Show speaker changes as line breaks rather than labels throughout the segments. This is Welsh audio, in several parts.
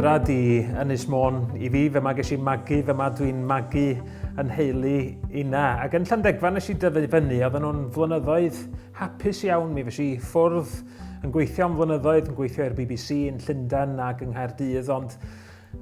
adra di Ynys Môn i fi, fe mae ges i magu, fe mae dwi'n magu yn heili una. Ac yn Llandegfa nes i dyfu fyny, oedd nhw'n flynyddoedd hapus iawn mi. Fes i ffwrdd yn gweithio am flynyddoedd, yn gweithio i'r BBC yn Llundain ac yng Nghaerdydd, ond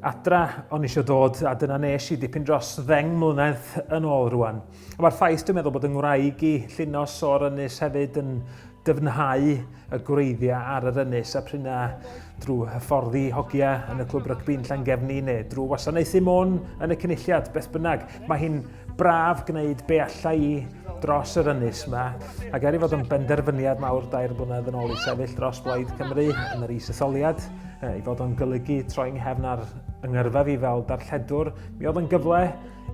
adra o'n eisiau dod, a dyna nes i dipyn dros ddeng mlynedd yn ôl rwan. A mae'r ffaith dwi'n meddwl bod yng ngwraig i llinos o'r ynys hefyd yn dyfnhau y gwreiddiau ar yr ynys a pryna drwy hyfforddi hogia yn y clwb rygbi'n Llangefni neu drwy wasanaethu môn yn y cynulliad, beth bynnag. Mae hi'n braf gwneud be allai i dros yr ynys yma, ac er i fod yn benderfyniad mawr dair blynedd yn ôl i sefyll dros Blaid Cymru yn yr is-etholiad, i fod o'n golygu troi'n nghefn ar yngyrfa fi fel darlledwr, mi oedd yn gyfle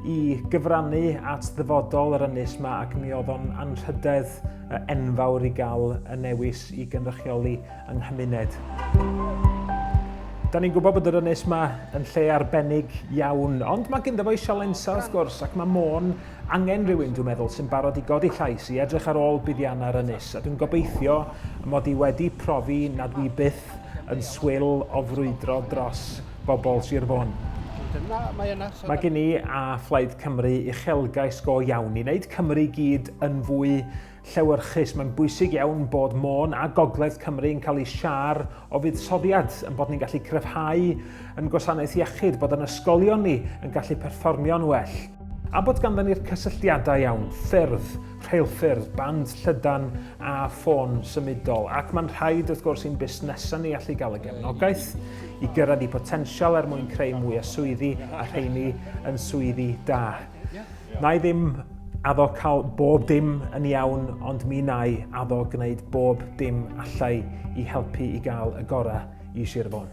i gyfrannu at ddyfodol yr ynys yma ac mi oedd o'n anrhydedd enfawr i gael y newis i gynrychioli yng nghymuned. Da ni'n gwybod bod yr ynys yma yn lle arbennig iawn, ond mae gyda fo'i sialensau wrth gwrs, ac mae Môn angen rhywun dwi'n meddwl sy'n barod i godi llais, i edrych ar ôl buddiannau yr ynys, a dwi'n gobeithio mod i wedi profi na dwi byth yn swil o frwydro dros bobl Sir Fôn. Mae gen i a Phlaid Cymru uchelgais go iawn i wneud Cymru i gyd yn fwy llewyrchus. Mae'n bwysig iawn bod Môn a Gogledd Cymru yn cael eu siar o fuddsoddiad, yn bod ni'n gallu cryfhau yn gwasanaeth iechyd, bod yn ysgolion ni yn gallu perfformio'n well, a bod ganddyn ni'r cysylltiadau iawn, ffyrdd, rheilffyrdd, band llydan a ffôn symudol, ac mae'n rhaid wrth gwrs i'n busnesau ni allu gael y gefnogaeth i gyrraedd i potensial er mwyn creu mwy o swyddi a rheini yn swyddi da. Nai ddim addo cael bob dim yn iawn ond mi nai addo gwneud bob dim allai i helpu i gael y gorau i Sir Fôn.